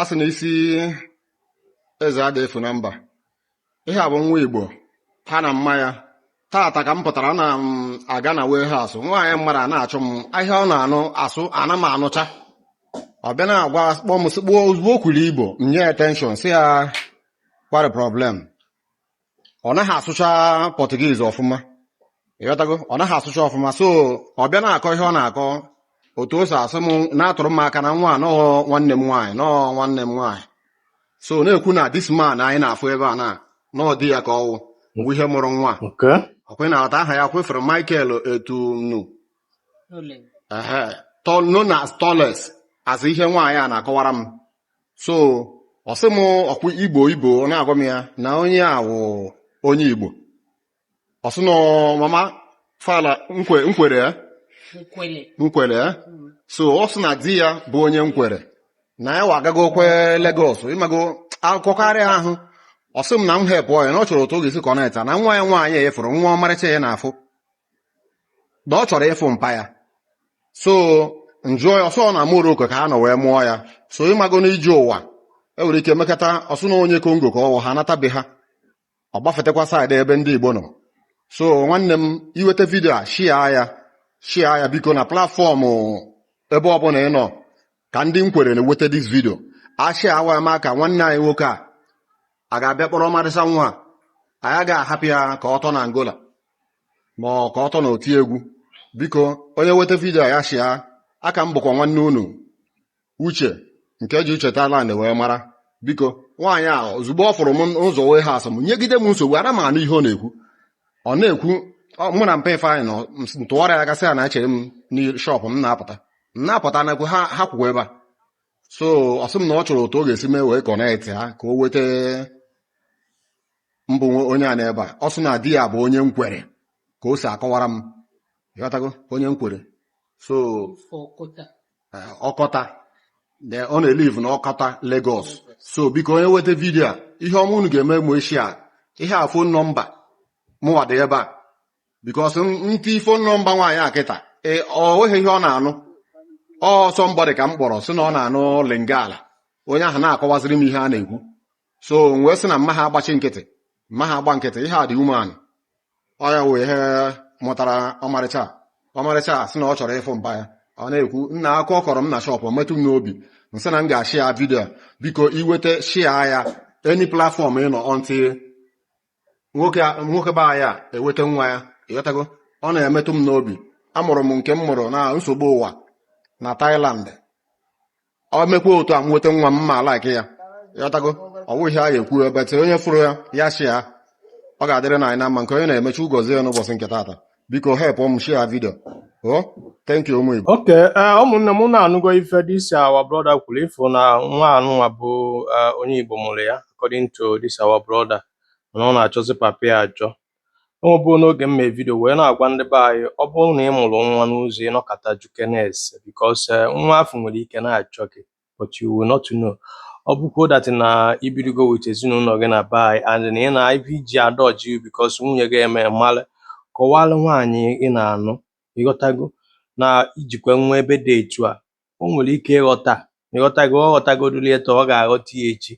a sị na isi eze ada efu na mba ihe a bụ nwa igbo ha na mma ya tata ka m pụtara na m aga na warehouse nwaanyị mmadụ a na-achọ m ihe ọ na-asụ ana m anụcha ọ bịa na-agwa kpọ m sị igbo ozugbo o kwuru igbo m nye ya attention sị ya kwari problem ọ naghị asụcha Portuguese ọfụma ịghọtago ọ naghị asụcha ọfụma so ọ bịa na-akọ ihe ọ na-akọ otu o si asụ m na-atụrụ m aka na nwa a na ọ nwanne m nwaanyị na ọ nwanne m nwaanyị so na-ekwu na this man anyị na-afụ ebe a na na ọ di ya ka ọ wụ bụ ihe mụrụ nwa Okay. ọkwe na-ata aha ya kwefere michael etunu Ole. ehe tọ- known as tallest as ihe nwaanyị a na-akọwara m so ọ sị m ọkwa igbo igbo ọ na-agwa m ya na onye a wụ onye igbo ọ sị na mama fala nkwe nkwere ya nkwele nkwere ya so ọ sị na di ya bụ onye nkwere na ya wa agagokwe Lagos ịmago akụkọ karịa ahụ ọ sị m na m help ya na ọ chọrọ otu ọ ga-esi connecta na nwa ya nwaanyị ị fụrụ nwa ọmarịcha a ị na-afụ na ọ chọrọ ịfụ mpa ya so m jụọ ya ọ sị ọ na Morocco ka ha nọ wee mụọ ya so ịmago n'ije ụwa e nwere ike mekata ọ sị na onye Congo ka ọ wụ ha natabe ha ọ gbafetakwa side ebe ndị Igbo nọ so nwanne m i nweta video a share ya share ya biko na platform ebe ọbụla ị nọ ka ndị nkwere na-enweta this video asharewa ya ma ka nwanne anyị nwoke a a ga-abịa kpọrọ ọmarịcha nwa a anyị agaghị ahapụ ya ka ọ tọ na Angola ma ọ ka ọ tọ na oti egwu biko onye nweta video ya share a ka m bụkwa nwanne unu uche nke e ji uche Thailand wee mara biko nwaanyị a ozugbo ọ fụrụ m n'ụzọ warehouse m nyegide m nsogbu ana m anụ ihe ọ na-ekwu ọ na-ekwu ọ- mụ na mpa ifeanyị nọ m s- m tụgharịa ga sị ya na echere m na shop m na-apụta m na-apụta nakwu ha ha kwụkwa ebe a so ọ sị m na ọ chọrọ otu ọ ga-esi mee wee connect ha ka o weta mbụ nwe onye a n'ebe a ọ sị na di ya bụ onye nkwere ka o si akọwara m ịghọtago onye nkwere so eh, Okota then ọ na-elive na Okota Lagos so biko onye nweta video a ihe ọma unu ga-eme mụ ishare ihe a phone number mụnwa dị ebe a because m tii phone number nwaanyị a kịta ee ọ nweghị ihe ọ na-anụ ọ somebody ka m kpọrọ sị na ọ na-anụ lingala onye ahụ na-akọwaziri m ihe a na-ekwu so m wee sị na m maha agbachi nkịtị m maha agba nkịtị ihe a dị umeanị ọ ya wụ ihe mụtara ọmarịcha a. ọmarịcha a sị na ọ chọrọ ịfụ mpa ya ọ na-ekwu nna akụkọ ọ kọrọ m na shop metụ m n'obi m sị na m ga-ashare video a. biko i nweta share ya any platform ị nọ until nwoke a- nwoke be anyị a eweta nwa ya ịghọtago ọ na-emetụ m n'obi amụrụ m nke m mụrụ na nsogbu ụwa na Thailand ọ mekwa otu a m nweta nwa m ma alaiki ya ịghọtago ọ bụghị ihe a ga-ekwu but onye fụrụ ya ya share ya ọ ga-adịrị na anyị na mma nke onye na-eme Chukwu gọzie ya n'ụbọchị nke taata biko help m share video oh thank you ụmụ Igbo okay eh, ụmụnne m unu anụgo ife this our brother kwuru ị fụ na nwa anụnwa bụ eh, onye Igbo mụrụ ya according to this our brother na ọ na-achọzi papa ya achọ ọ bụ n'oge m mee video wee na-agwa ndị be anyị ọ bụrụ na ị mụrụ nwa n'ụzọ ị nọkata jụkene ese because eh, nwa afụ nwere ike na-achọ gị but you will not know ọ bụkwa that na i birigo with ezinụlọ gị na be anyị and na ị na ife i ji a-dodge because nwunye gị eme mmalụ kọwalụ nwaanyị ị na-anụ ịghọtago na i jikwa nwa ebe dị etu a o nwere ike ịghọta ịghọtago ọ ghọtagodoli taa ọ ga-aghọta ya echi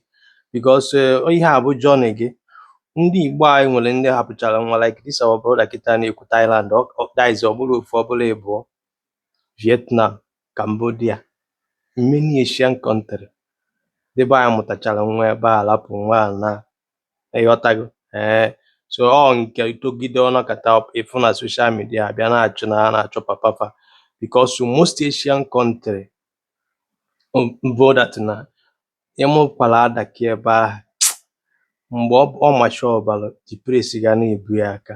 because eh, ihe a bụ journey gị ndị igbo anyị nwere ndị hapụchara nwa like this our brother kịta na-ekwu Thailand ọ- ọ- that is ọ bụrọ ofu ọ bụrọ ịbụọ Vietnam Cambodia, many Asian country ndị be anyị mụtachara nwa ebe a rapụ nwa naa ịghọtago ee so ọ na-etogide ọ nọkata ị fụ na social media a bịa na-achọ na ha na-achọ papa fa because most Asian country bụ that na ị mụkwara adaka ebe ahụ mgbe ọ macha ọbara the praise ga na-ebu ya aka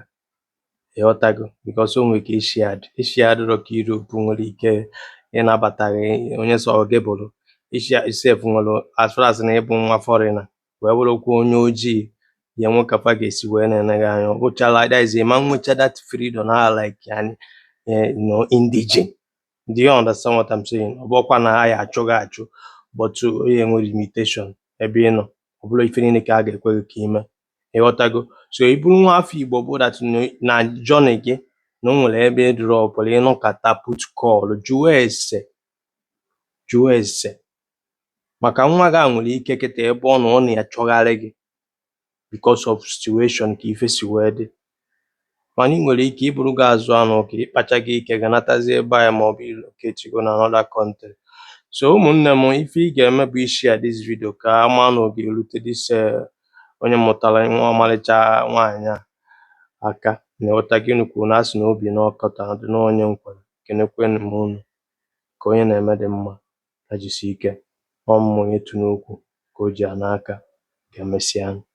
ịghọtago because o nwere ike Asia adị Asia adịrọ ka Europe nwere ike ịnabata gị onye sọ gị bụrụ Asia itself nwere as far as na ị bụ nwa foreigner wee bụrụkwa onye ojii ya enwe ka fa ga-esi wee na-ene gị anya ọ bụchala that is ị ma nwecha that freedom na like eh, an indigene Do you understand what I'm saying? Ọ bụrọkwa na ha ya-achụ gị achụ but o nwere limitation ebe ị nọ ọ bụrọ ife niile ka a ga-ekwe gị ka i mee ịghọtago so ị bụrụ nwa afọ Igbo bụ that na journey gị na o nwere ebe ị drọpụrụ ị nọkata put call jụọ ese jụọ ese maka nwa gị a nwere ike kịta ebe ọ nọ ọ na-achọgharị gị because of situation ka ife si wee dị mana ị nwere ike iburu gị azụ anụ ka ị kpachago ike gị natazi be anyị maọbụ relocate go na another country so ụmụnne m ife ị ga-eme bụ ị share this video ka a maa na ọ ga-erute this eh, onye mụtara nwa ọmarịcha nwaanyị a aka na ịghọta gị unu kwuru na a sị na obi na ọkọta dị n'onye nkwere kenekwe m unu nke onye na-eme dị mma ya jisie ike, ọ mụ onye too nnukwu ka o ji ana aka, ka e mesịanụ.